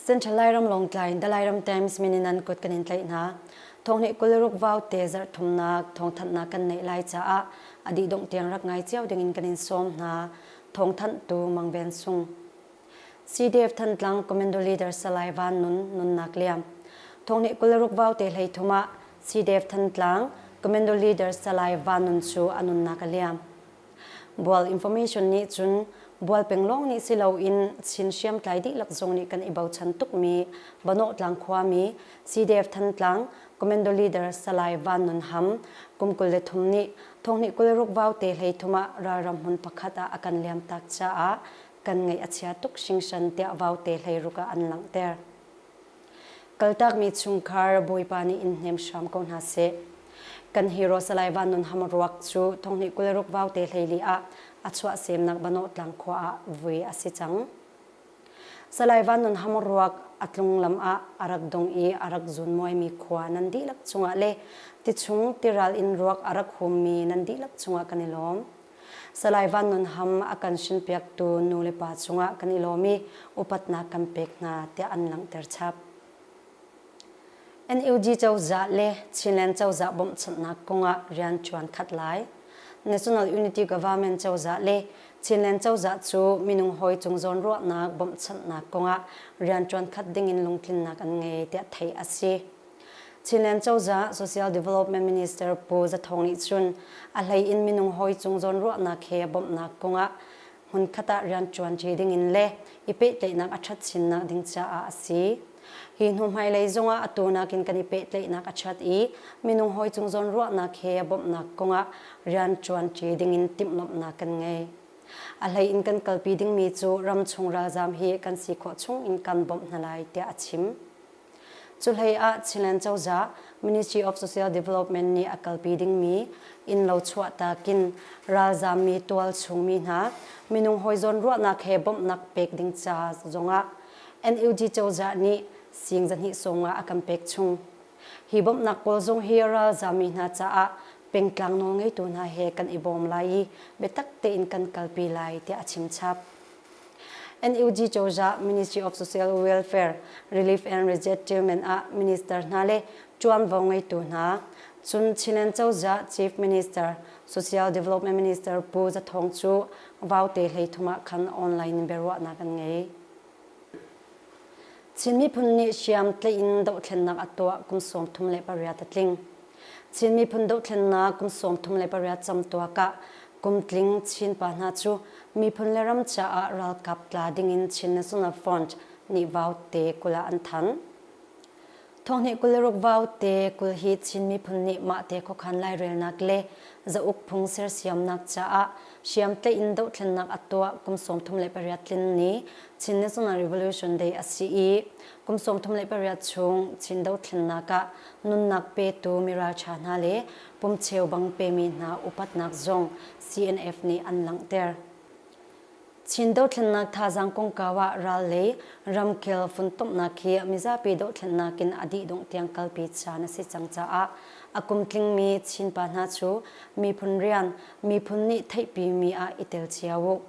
Central Lairam Longtlai in Dalairam Times min in an kut kan in tlaih hna. Thong nih kuleruk vau te zarh thumnak thong thanhnak kan neih lai caah adi dongh tiang rak ngai cio ding in kan in sawm hna. Thong thanh tu Mang Ben Sung. CDF Thantlang Commando Leader Salai Van Nun nunnak liam Thongnih kul ruk vaute hleithum ah CDF Thantlang Commando Leader Salai Van Nun cu a nunnak a liam. Bual information nih cun bual peng lawng nih si loin Chin hriamtlai dihlak zong nih kan i bochan tukmi Banawhtlang khuami CDF Thantlang Commando Leader Salai Van Nun Ham kum kul le thum nih Thongnih kul ruk vaute hleithum ah ralram hmun pakhat ah a kan liamtak caah kan ngaih a chia tuk hringhran tiah Vaute hleiruk ah an langhter. Kaltakmi chungkhar Bawipa nih in hnem hram ko hna seh. Kan hero Salai Van Nun Ham ruak cu Thonghni kulruk Vaute hleili ah a chuahsemnak Banawh Tlang khua ah vui a si cang. Salai Van Nun Ham ruak a tlung lam ah a rak dong i a rak zunmuaimi khua nan dihlak cungah le tichung tiral in ruak a rak hummi nan dihlak cungah kan i lawm. Salai Van Nun Ham a kan hrinpiaktu nulepa cungah kan i lawm i upatnak kan pek hna tiah an langhter chap. NUG cozah le Chinland cozah bawmhchanhnak kongah rian ṭuan khat lai. National Unity Government cozah le Chinland cozah cu minung hawi cung zawnruahnak bawmhchanhnak kongah rian ṭuan khat dingin lungtlinnak an ngei tiah theih a si. Chinland cozah Social Development Minister Pu Za Thawng nih cun a hlei in minung hawi cung zawnruahnak he bawmhnak kong ah hmunkhat ah rianṭuanṭi dingin le i pehtlaihnak a ṭhat chinnak ding caah a si. Hi hnu hmailei zongah atu nakin kan i pehtlaihnak a ṭhat i minung hawi cung zawnruahnak he bawmhnak kong ah rianṭuanṭi dingin timhlamhnak kan ngei. A hlei in kan kalpi dingmi cu ram chung ralzaam hi kan si khawh chung in kan bawmh hna lai tiah a chim. Cuhlei ah Chinland cozah Ministry of Social Development nih a kalpi dingmi innlo chuahtak in ralzaammi tualchungmi hna minung hawi zawnruahnak he bawmhnak pek ding ca zongah NUG cozah nih siing zahnih sawmnga a kan pek chung. Hi bawmhnak pawl zong hi ralzaammi hna caah pengtlang nawlngeitu hna he kan i bawm lai i biatak tein kan kalpi lai tiah a chimchap. NUG cozah Ministry of Social Welfare, Relief and Resettlement ah minister hna le ṭuanvo ngeitu hna, cun Chin cozah Chief Minister, Social Development Minister Pu Za Thawng cu Vaute hleithum ah khan online in biaruahnak an ngei. Chin miphun nih hriam tleih in dohthlennak a tuah kum sawm thum le pariat a tling. Chin miphun dohthlennak kum sawm thum le pariat cam tuak ah kum tling Chin pa hna cu miphun le ram caah ralkap tla ding in Chin National Front nih vaute kul ah an thanh. Thonghnih kul ruk vau te kul hi Chin miphun nih mah te khokhan lairelnak le zauk phung sersiamnak caah hriam tein dohthlennak a tuah kum sawmthum le pariat tlin ni Chin National Revolution Day a si i kum sawmthum le pariat chung Chin dothlennak ah nunnak petu miralṭha hna le pumcheu bang pemi hna upatnak zong CNF nih an langhter. Chin dothlennak thazaang kongkau ah ral le ramkel funtomnak hi mizapi dohthlennak in a dih dongh tiang kalpi caan a si cang caah a kum tlingmi Chinpa hna cu miphun rian, miphun nih theihpimi ah i tel cio u.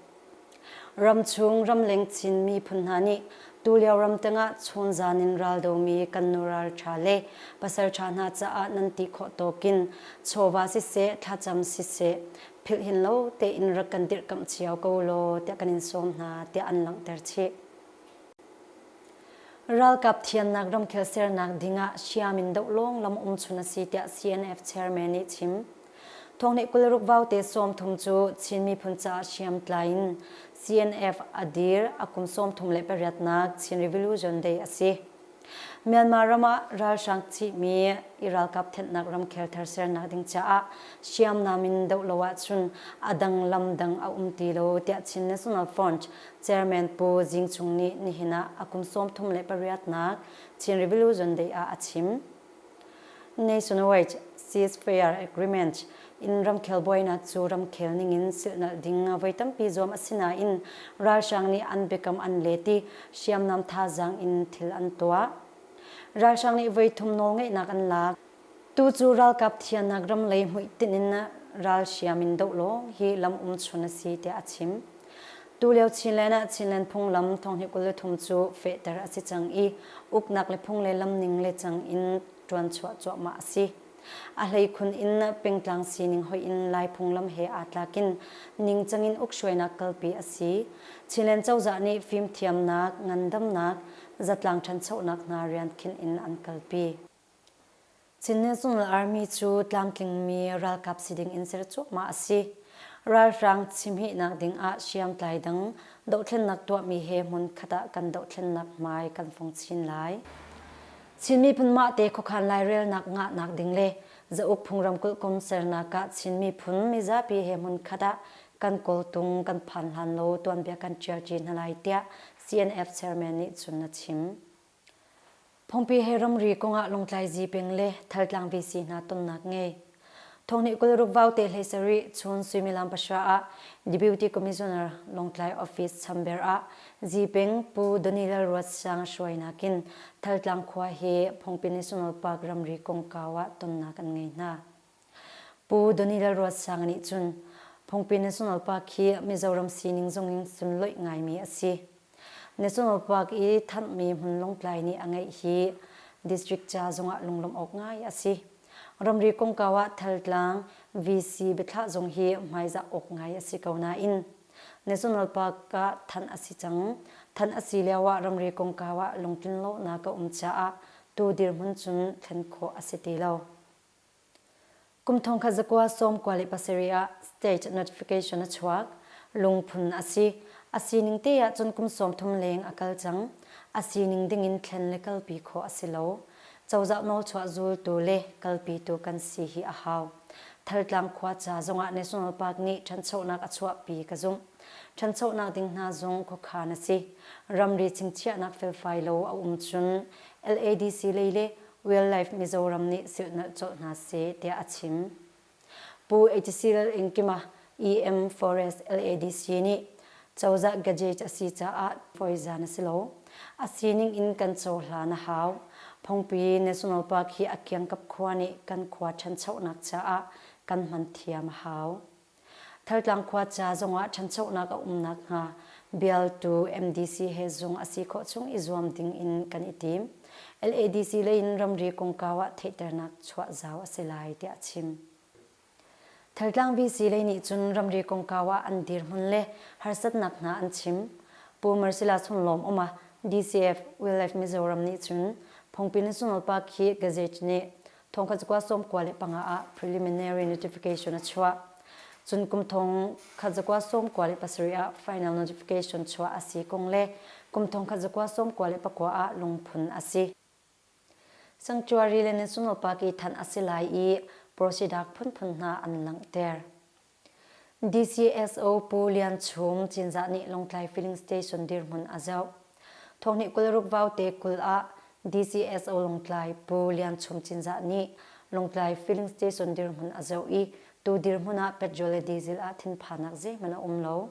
Ramchung ramleng Chin miphun hna nih tulio ram tangah chawnzan in raldomi kan nu ralṭha le pasalṭha hna caah nan ti khawh tawkin chawva siseh, thlacam siseh, philhin lo tein rak kan dirhkamh cio ko law tiah kan in sawm hna tiah an langhter chih. Ralkap thiannak ramkhel sernak ding ah hriam in doh lawng lam um chun a si tiah CNF chairman nih chim. Thawngnih kularuk vaute sawm thum cu Chin miphun caah hriam tlai in CNF a dir a kum sawm thum le pariatnak Chin Revolution Day a si. Myanmar ram ah ralhrang cihmi i ralkap thenhnak ramkhel thar sernak ding caah hriamnam in doh lo ahcun a dang lam dang a um ti lo, tiah Chin National Front Chairman Pu Zing Cung nih nihin ah a kum sawm thum le pariatnak Chin Revolution Day ah a chim. Nation wage ceasefire agreement in ramkhel buainak cu ramkhel ningin silhnalh ding voi tampi zuam a si nain ralhrang nih an biakam an let i hriamnam thazaang in thil an tuah. Ralhrang nih voi thum nawlngeihnak an lak. Tu cu ralkap thiannak ram lei hmuitinh in ralhriam in doh lawng hi lam um chun a si tiah a chim. Tulio Chinland ah Chinland phunglam thonghnih kul le thum cu fehter a si cang i uknak le phung le lamning le cang in ṭuanchuah cuahmah a si. A hleikhun in pengtlang sining hoih in Lai phunglam he aa tlakin ningcang in ukhruainak kalpi a si. Chinland cozah nih fimthiamnak, ngandamnak, zatlang ṭhanchonak hna rian khinh in an kalpi. Chin National Army cu tlamtlingmi ralkap si ding in ser cuahmah a si. Ralhrang chimhihnak ding ah hriamtlai dang dohthlennak tuahmi he hmun khat ah kan dohthlennak hmai kan fung chin lai. Chin miphun mahte khuakhan lairelnak ngahnak ding le zauk phungram kulkum sernak ah Chin miphun mizapi he hmun khat ah kan kawltung kan phan hlan lo tuanbia kan ṭial ṭi hna lai tiah CNF chairman nih cun a chim. Phungpi he ramri kongah longtlaizi peng le thaltlang VC hna tonnak ngei. Thonghni kul ruk vau te hlei sari chun suimilam pasha ah Deputy Commissioner Longtlai Office Chamber ah Zipeng Pu Daniel Ruat Sang hruai nakin Thaltlang khua he Phungpi National Park ramri kongkau ah tonnak an ngei hna. Pu Donny Lalruatsanga nih cun Phungpi National Park hi Mizoram sining zongin sunloih ngaimi a si. National Park i thanhmi hmun lawngtlai nih a ngeih hi district ca zongah lunglawmh awk ngai a si. Ramri kongkau ah Thaltlang VC biathlah zong hi hmaizah awk ngai a si ko nain National Park ah thanh a si cang. Thanh a si lioah ramri kongkau ah lungtlin lonak a um caah tu dirhmun cun thlen khawh a si ti lo. Kum thong khat zakua sawm kua le pasarih ah stage notification a chuak. Lungphun a si. A sining te ahcun kum sawm thum leng a kal cang. A sining dingin thlen le kalpi khawh a si lo. Cozah nawlchuah zultu le kalpitu kan si hi a hau. Thantlang khuaca zongah National Park nih ṭhanchonak a chuahpi ka zumh. Ṭhanchonak ding hna zong khuakhan a si. Ramri chingchiahnak felfai lo a um cun LADC lei le Wildlife Mizoram nih silhnalh cawh hna seh tiah a chim. Pu HCL Ingkima EM Forest LADC nih cozah gadgets a si caah puaizan a si lo. A sining in kan cohlan a hau. Phungpi National Park hi a kiangkap khua nih kan khua ṭhanchonak caah kan hman thiam a hau. Thaltlang khua ca zongah ṭhanchonak a um nakhnga bialtu MDC he zung a si khawh chung i zuam ding in kan i tim. LADC lei in ramri kongkau ah theihternak chuah zau a si lai tiah a chim. Thaltlang VC lei nih cun ramri kongkau ah an dirhmun le harsatnak hna an chim. Pu Marcella Chun Lawm um ah DCF Wildlife Mizoram nih cun Phungpi National Park hi gazette nih Thawngkha cukua sawmkua le panga ah preliminary notification a chuah. Cun kum thong khat zakua sawmkua le pasarih ah final notification chuah a si kong le kum thong khat zakua sawmkua le pakua ah lungphun a si. Sanctuary le National Park i thanh a si lai i prosidak phunphun hna an langhter. DCSO Pu Lian Chung Cinzah nih Lawngtlai Filling Station dirhmun a zoh. Thawhni kul ruk vaute kul ah DCSO Lawngtlai Pu Lian Chung Cinzah nih Lawngtlai Filling Station dirhmun a zoh i tu dirhmun ah petrol le diesel ah thinphannak zeihmanh a um lo.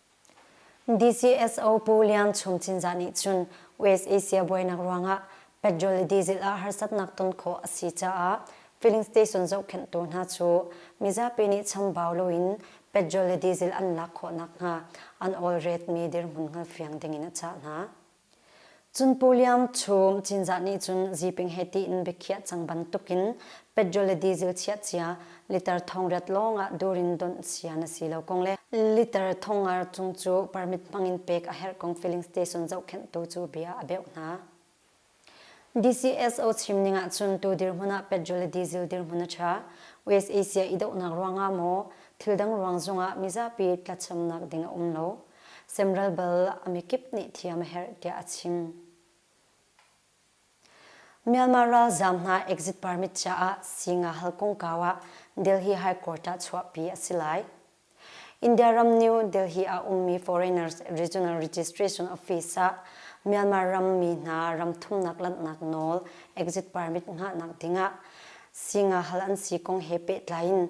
DCSO Pu Lian Chung Cinzah nih cun US Asia buainak ruangah petrol le diesel ah harsatnak ton khawh a si caah filling station zohkhenhtu hna cu mizapi nih chambau loin petrol le diesel an lak khawh nakhnga an olretmi dirhmun hngal fiang dingin a cah hna. Cun Puliam chung Cinzah nih cun Ziping he tiin biakhiah cang bantukin petrol le diesel chiah cia liter thong riat lawngah dur in donh cia na si lo kong le liter thong ar cung cu permit hmangin pek a herh kong filling station zohkhenhtu cu bia a beuh hna. DCSO chim ning ahcun tu dirhmun ah petrol le diesel dirhmun a ṭha. US Asia i dohnak ruangah maw thildang ruang zongah mizapi tlachamnak ding a um lo. semral bal a mikip nih thiam a herh tiah a chim. Myanmar ralzam hna exit permit caah singa hal kongkaw ah Delhi High Court ah chuahpi a si lai. India ram New Delhi ah ummi Foreigners Regional Registration Office ah Myanmar ram mi hna ram thumnak lanhnak nawl exit permit ngahnak dingah singa hal an si kong he pehtlai in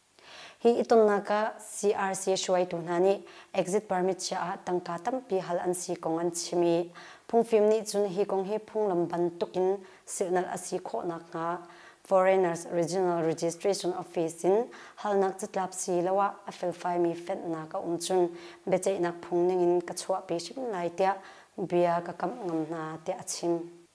Hi itonnak ah CRC hruaitu hna nih exit permit chiah ah tangka tampi hal an si kong an chim i phungfim nih cun hi kong hi phunglam bantuk in silhnalh a si khawh nakhnga Foreigners Regional Registration Office in halnak catlap siloah a felfaimi fenh-nak a um cun biaceihnak phung ning in ka chuahpi hrim lai tiah bia ka kamh ngam hna tiah a chim.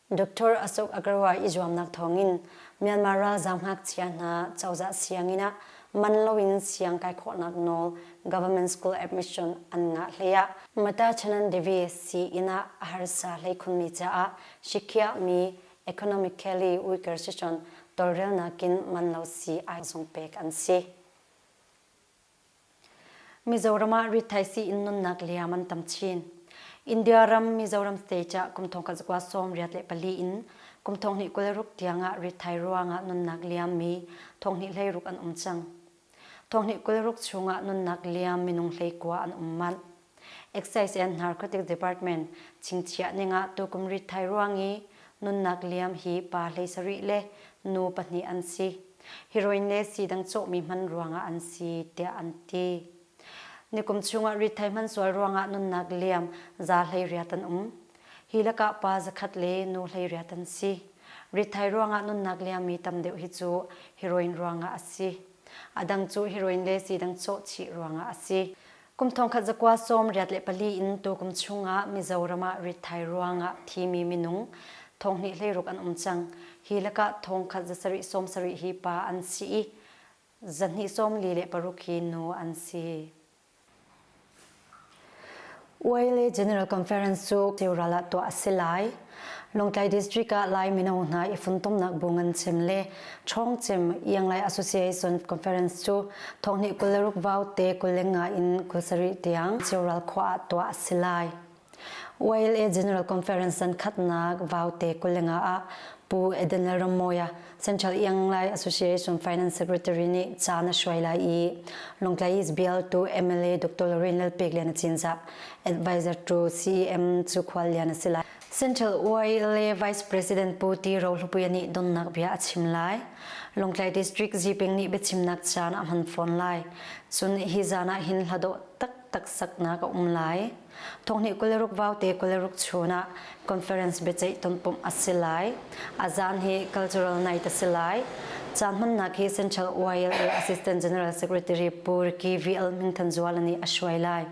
Dr. Asuk Agarwal i zuamnak thawngin Myanmar ralzaam ngakchia hna cozah sianginn ah man loin siang kai khawhnak nawl Government School Admission an ngah hlei ah Matachanan Devi sii-inn ah a harsa hlei khunmi caah sikhiahmi economically weaker si cun tawlrelnak in man lo sii ai zung pek an si. Mizoram ah rithaisii in nunnak liam an tam chin. India ram Mizoram state ah kum thong khat zakua sawm riat le pali in kum thong hnih kul ruk tiang ah rithai ruang ah nunnak liammi thong hnih hlei ruk an um cang. Thong hnih kul ruk chung ah nunnak liam minung hlei kua an um manh. Excise and Narcotic Department chingchiah ningah tukum rithai ruang i nunnak liam hi pa hlei sarih le nu pahnih an si. Heroin le sidang cawhmi hman ruangah an si tiah an ti. Nikum chungah rithai hman sual ruangah nunnak liam za hlei riat an um. Hi lakah pa zakhat le nu hlei riat an si. Rithai ruangah nunnak liammi tam deuh hi cu heroin ruangah a si. A dang cu heroin le sidang cawh chih ruangah a si. Kum thongkhat zakua sawm riat le pali in tu kum chungah Mizoram ah rithai ruangah thimi minung thonghnih hleiruk an um cang. Hi lakah thongkhat zasarih sawm sarih hi pa an si i zahnih sawm li le paruk hi nu an si. UALA General Conference cu tiurala tuah a si lai. Lawngtlai District ah Lai mino hna i funtomnak bu ngan cem le ṭhawng cem Ianglai Association Conference cu thonghni kul le ruk vau te kul le nga in kul sarih tiang Cioral khua ah tuah a si lai. YLA General Conference san khatnak vau te kul le nga ah Pu Edenel Rammawi a Central Ianglai Association Finance Secretary nih ca na hruai lai i Lungtlai is bill to MLA Dr. Lorraine Lalpek Lian a Cinzah advisor to CEM cu khual lian a si lai Central UILA Vice President Pu Ti Ro Hlupuia nih donnak bia a chim lai Lungtlai District Ziping nih biachimnak caan a hman fawn lai cun hi zan ah hin hlado taktak saknak a um lai Thonghnih kul le ruk vaute kul le ruk chun ah conference biaceih tonpumh a si lai. A zaan hi cultural night a si lai. Caan hmannak hi Central YLA Assistant General Secretary Pu Ricky VL Min Than Zuala nih a hruai lai.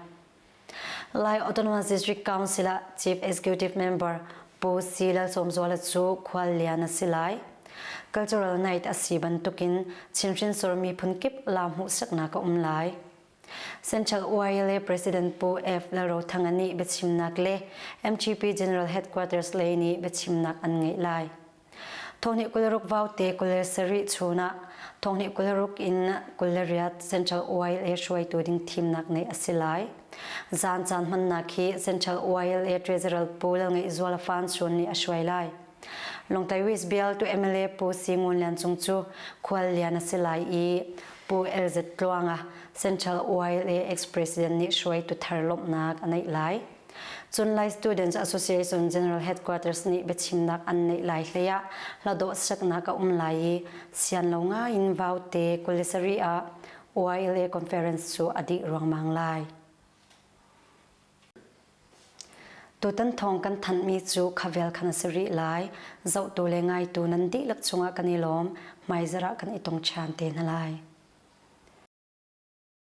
Lai Autonomous District Council ah Chief Executive Member Pu C. Lalsawm Zuala cu khuallian a si lai. Cultural night a si bantukin Chinhrin sur miphun kip lam hmuhsaknak a um lai. Central UILA President Pu F. Lalrothanga nih biachimnak le MTP General Headquarters lei nih biachimnak an ngeih lai. Thawhni kularuk vaute kul le sarih chun ah thawhni kularuk in kul le riat Central UILA hruaitu ding thimnak ngeih a si lai. Zan caan hmannak hi Central UILA Treasurer Pu Lalngeih Zual Fan Chun nih a hruai lai. Longtai West Bial tu MLA Pu Si Ngun Lian Cung cu khual lian a si lai i Pu LZ Tluang a Central YLA ex-president nih hruaitu thar lawmhnak a neih lai. Cun Lai Students Association General Headquarters nih biachimnak an neih lai hlei ah hladawh saknak a um lai i sian lo ngai in Vaute Kulisari ah YLA conference cu a dih ruangmang lai. Tutan thawng kan thanhmi cu khavel khan a si rih lai. Zohtu le ngaitu nan dihlak chungah kan i lawm. Hmaizarh ah kan i tong ṭhan te hna lai.